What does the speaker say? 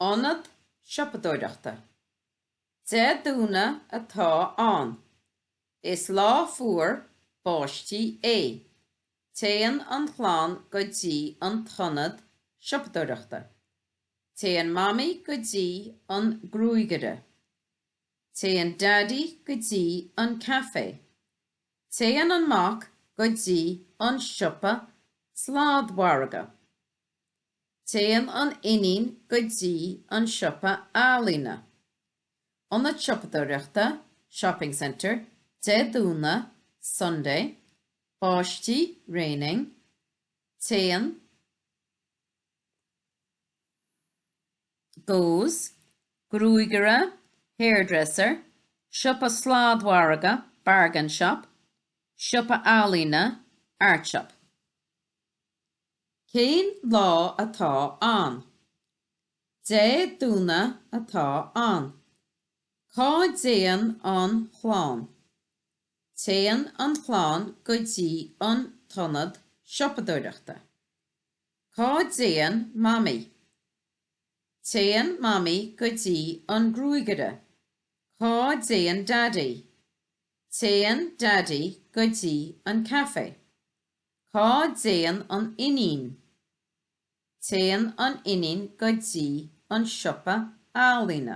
Ionad siopadóireachta Dé Domhnaigh atá ann. Is lá fuar báistí é. Téann an chlann go dtí an t-ionad siopadóireachta. Téann Mamaí go dtí an gruagaire. Téann Daidí go dtí an caifé. Téann an mac go dtí an siopa sladmhargadh. Téann an iníon go dtí an siopa ealaíne, ionad siopadóireachta, shopping centre, Dé Domhnaigh, Sunday, báistí, raining, Téann, goes, gruagaire, hairdresser, siopa sladmhargadh, bargain shop, siopa ealaíne, art shop. Cén lá atá ann? Dé Domhnaigh atá ann. Cá dtéann an chlann? Téann an chlann go dtí an t-ionad siopadóireachta. Cá dtéann Mamaí? Téann Mamaí go dtí an gruagaire. Cá dtéann Daidí? Téann Daidí go dtí an caifé. Cá dtéann an iníon? Téann an iníon go dtí an siopa ealaíne.